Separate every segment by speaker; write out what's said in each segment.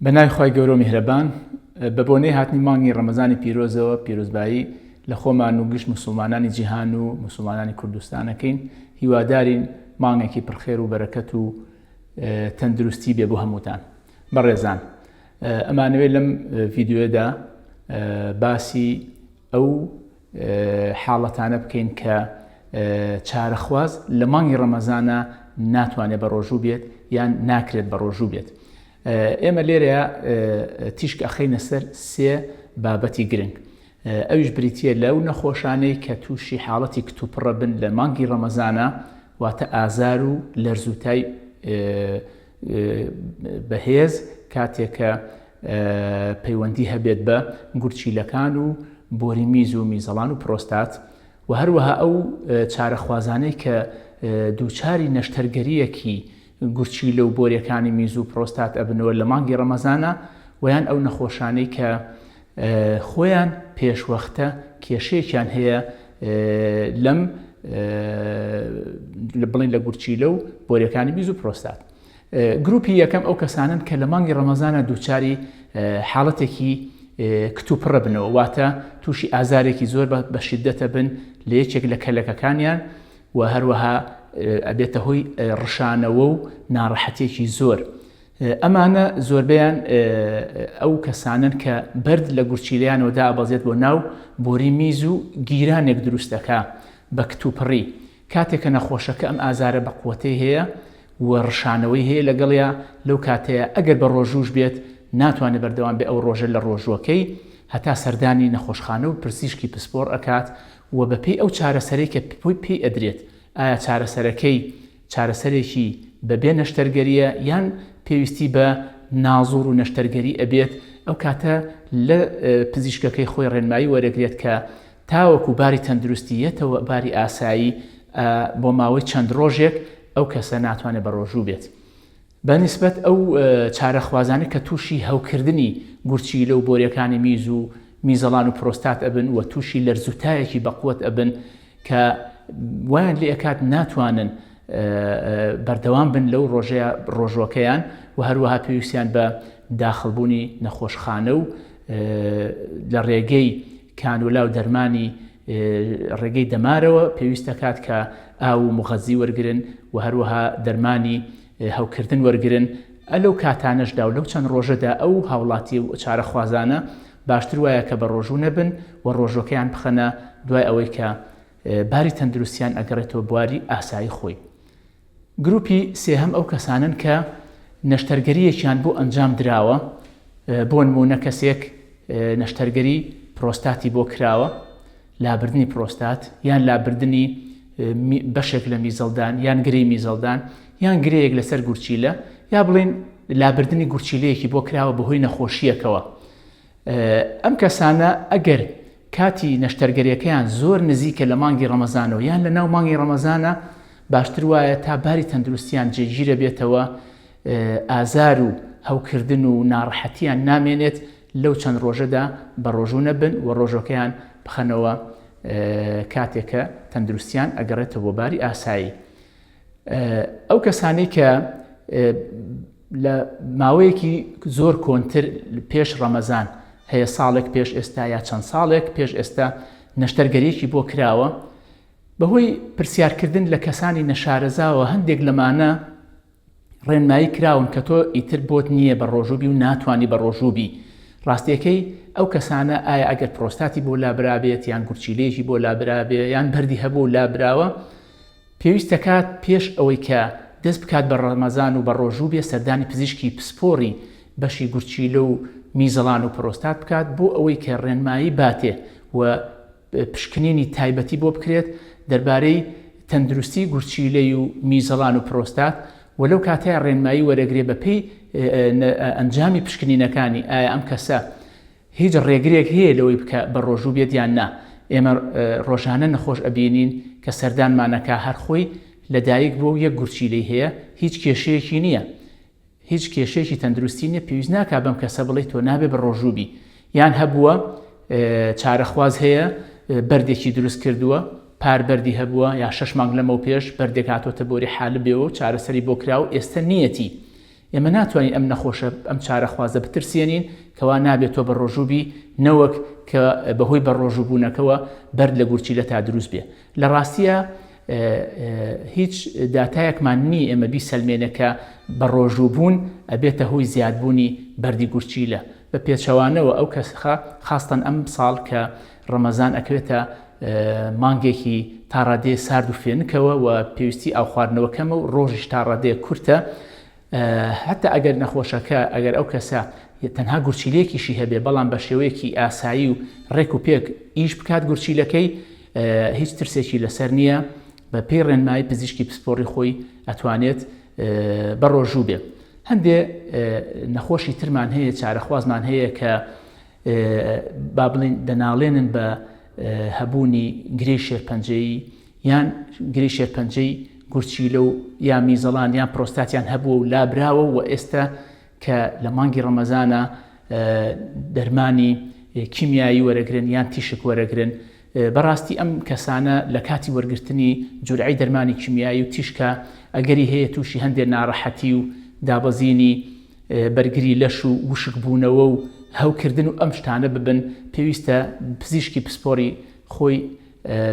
Speaker 1: بە ناوی خی گەورە و میهرەبان بە بۆنەی هاتنی مانگی ڕەمەزانی پیرۆزەوە پیرۆزبایی لە خۆمان و گشت مسلمانانی جیهان و مسلمانانی کوردستانەکەین هیوادارین مانگێکی پرخێر و بەرەکەت و تەندروستی بێ بۆ هەمووتان بەڕێزان ئەمانوێت لەم ڤیددیوێدا باسی ئەو حاڵەتانە بکەین کە چارەخواز لە مانگی ڕەمەزانە ناتوانێت بە ڕۆژوو بێت یان ناکرێت بە ڕۆژوو بێت ئێمە لێرە تیشک ئەخینە سەر سێ بابەتی گرنگ ئەویش بریتە لەو نەخۆشانەی کە تووشی حاڵەتی کتوپڕە بن لە مانگی ڕەمەزانە واتە ئازار و لەرزوتای بەهێز کاتێک کە پەیوەندی هەبێت بە گورچیلەکان و بۆری میز و میزەڵان و پرۆستات و هەروەها ئەو چارەخوازانەی کە دووچاری نەشتەرگەریەکی گورچی لەو بۆرەکانی میز و پرۆستات ئەبنەوە لە مانگی ڕەمەزانە ویان ئەو نەخۆشانەی کە خۆیان پێشوەختە کێشەیەکیان هەیە لەم بڵین لە گورچیلە و بۆرەکانی بیز و پرۆستات گروپی یەکەم ئەو کەسانن کە لە مانگی ڕەمەزانە دووچاری حاڵەتێکی کتوپڕە بنەوە واتە تووشی ئازارێکی زۆر بە شدەتە بن لە یەکێک لە کەلەکەکانیان و هەروەها ئەبێتە هۆی ڕشانەوە و ناڕەحەتێکی زۆر ئەمانە زۆربەیان ئەو کەسانەن کە بەرد لە گورچیلەیانەوە دائەبەزێت بۆ ناو بۆری میز و گیرانێک دروست دەکا بە کتوپڕی، کاتێک کە نەخۆشەکە ئەم ئازارە بەقوەتەی هەیە و ڕشانەوەی هەیە لەگەڵیا لەو کاتەیا ئەگەر بە ڕۆژووش بێت ناتوانێت بەردەوام بێت ئەو ڕۆژە لە ڕۆژووەکەی هەتا سەردانی نەخۆشخانە و پرسیشکی پسپۆڕ ئەکات و بەپێی ئەو چارەسەرەی کە پێی ئەدرێت ئایا چارەسەرەکەی چارەسەرێکی بەبێ نەشتەرگەریە یان پێویستی بە نازوڕ و نەشتەرگەری ئەبێت ئەو کاتە لە پزیشکەکەی خۆی ڕێنمایی وەرەگرێت کە تاوەکو باری تەندروستی یەتەوە باری ئاسایی بۆ ماوەی چەند ڕۆژێک ئەو کەسە ناتوانێت بەڕۆژوو بێت. بە نیسبەت ئەو چارەخوازانە کە تووشی هەوکردنی گورچیلە و بۆریەکانی میز و میزەڵان و پرۆستات ئەبن و تووشی لەرز و تایەکی بەقوەت ئەبن کە وایان لێ ئەکات ناتوانن بەردەوام بن لەو ڕۆژەیە ڕۆژوەکەیان و هەروەها پێویستیان بە داخڵبوونی نەخۆشخانە و لە ڕێگەی کانولا و دەرمانی ڕێگەی دەمارەوە پێویست دەکات کە ئاو و مغەزی وەرگرن و هەروەها دەرمانی هەوکردن وەرگرن ئە لەو کاتانەشدا و لەو چەند ڕۆژەدا ئەو هاوڵاتی و چارەخوازانە باشتر وایە کە بە ڕۆژوو نەبن و ڕۆژوەکەیان بخەنە دوای ئەوەی کە باری تەندروستیان ئەگەڕێتەوە بواری ئاسایی خۆی گروپی سێهەم ئەو کەسانەن کە نەشتەرگەرییەکیان بۆ ئەنجام دراوە، بۆ نموونە کەسێک نەشتەرگەری پرۆستاتی بۆ کراوە، لابردنی پرۆستات، یان لابردنی بەشێک لە میزەڵدان، یان گرێی میزەڵدان، یان گرێیەک لەسەر گورچیلە، یا بڵێین لابردنی گورچیلەیەکی بۆ کراوە بەهۆی نەخۆشییەکەوە. ئەم کەسانە ئەگەر کاتی نەشتەرگەریەکەیان زۆر نزیکە لە مانگی ڕەمەزانەوە یان لە ناو مانگی ڕەمەزانە باشتر وایە تا باری تەندروستیان جێگیرە بێتەوە ئازار و هەوکردن و ناڕەحەتیان نامێنێت لەو چەند ڕۆژەدا بە ڕۆژوو نەبن و ڕۆژەکەیان بخەنەوە کاتێکە تەندروستیان ئەگەڕێتە بۆ باری ئاسایی ئەو کەسانەی کە لە ماوەیەکی زۆر کۆنتر پێش ڕەمەزان هەیە ساڵێک پێش ئێستا یا چەند ساڵێک پێش ئێستا نەشتەرگەریەکی بۆ کراوە بەهۆی پرسیارکردن لە کەسانی نەشارەزاوە هەندێک لەمانە ڕێنمایی کراون کە تۆ ئیتر بۆت نییە بە ڕۆژوو بی و ناتوانی بە ڕۆژوو بی. ڕاستیەکەی ئەو کەسانە ئایا ئەگەر پرۆستاتی بۆ لابرابێت یان گورچیلەیەکی بۆ لابرابێ یان بەردی هەبوو و لابراوە پێویست دەکات پێش ئەوەی کە دەست بکات بە ڕەمەزان و بە ڕۆژوو بێ سەردانی پزیشکی پسپۆڕی بەشی گورچیلە و میزەڵان و پرۆستات بکات بۆ ئەوەی کە ڕێنمایی باتێ و پشکنینی تایبەتی بۆ بکرێت دەربارەی تەندروستی گورچیلەی و میزەڵان و پرۆستات و لەو کاتەیا ڕێنمایی وەرەگرێ بەپێی ئەنجامی پشکنینەکانی ئایا ئەم کەسە هیچ ڕێگرێک هەیە لەوەی بکە بە ڕۆژوو بێت یان نا ئێمە ڕۆژانە نەخۆش ئەبینین کە سەردانمانەکە هەر خۆی لەدایک بووە و یەک گورچیلەی هەیە هیچ کێشەیەکی نییە هیچ کێشەیەکی تەندروستی نیە پێویست ناکا بەم کەسە بڵێی تۆ نابێ بەڕۆژوو بی یان هەبووە چارەخواز هەیە بەردێکی دروست کردووە پار بەردی هەبووە یا شش مانگ لەمەو پێش بەردێک هاتۆتە بۆری حالە بێەوە و چارەسەری بۆ کرا و ئێستا نیەتی ئێمە ناتوانین ئەم نەخۆشە ئەم چارەخوازە بترسێنین کەوا نابێت تۆ بە ڕۆژووبی نەوەک کە بەهۆی بە ڕۆژووبوونەکەەوە بەر لە گورچیلە تا دروست بێ لە ڕاستیا هیچ داتایەکمان نی ئێمە بیسەلمێنە کە بە ڕۆژوو بوون ئەبێتە هۆی زیادبوونی بەردی گورچیلە بە پێچەوانەوە ئەو کەسخە خاستن ئەم ساڵ کە ڕەمەزان ئەکرێتە مانگێکی تاڕادێ سارد و فێنکەوە و پێویستی ئاو خواردنەوە کەمە و ڕۆژیش تاڕادێ کورتە هەتا ئەگەر نەخۆشەکە ئەگەر ئەو کەسە تەنها گورچیلێکیشی هەبێ بەڵام بە شێوەیەکی ئاسایی و ڕێک و پێک ئیش بکات گورچیلەکەی هیچ ترسێکی لەسەر نییە بە پێی ڕێنمایی پزیشکی پسپۆڕی خۆی ئەتوانێت بەڕۆژوو بێ هەندێ نەخۆشی ترمان هەیە چارەخوازمان هەیە کە با بڵین دەناڵێنن بە هەبوونی گرێ شێرپەنجەی یان گرێی شێرپەنجەی گورچیلە و یا میزەڵان یان پرۆستاتیان هەبووە و لابراوە و ئێستا کە لە مانگی ڕەمەزانە دەرمانی کیمیایی وەرەگرن یان تیشک وەرەگرن بەڕاستی ئەم کەسانە لە کاتی وەرگرتنی جورعی دەرمانی کیمیایی و تیشکە ئەگەری هەیە تووشی هەندێ ناڕەحەتی و دابەزینی بەرگری لەش و وشک بوونەوە و هەوکردن و ئەم شتانە ببن پێویستە پزیشکی پسپۆری خۆی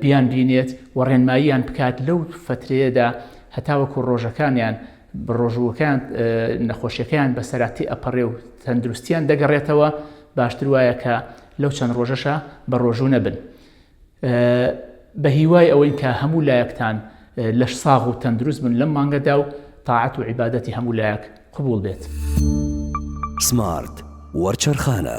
Speaker 1: بیان بینێت و ڕێنماییان بکات لەو فەترەیەدا هەتاوەکو ڕۆژەکانیان بەڕۆژووەکەیان نەخۆشیەکەیان بەسەرا تێ ئەپەڕێ و تەندروستیان دەگەڕێتەوە باشتر وایە کە لەو چەند ڕۆژەشە بە ڕۆژوو نەبن بە هیوای ئەوەین کە هەموو لایەکتان لەش ساغ و تەندروست بن لەم مانگەدا و تاعەت و عیبادەتی هەموو لایەک قبول بێت سمارت وەرچەرخانە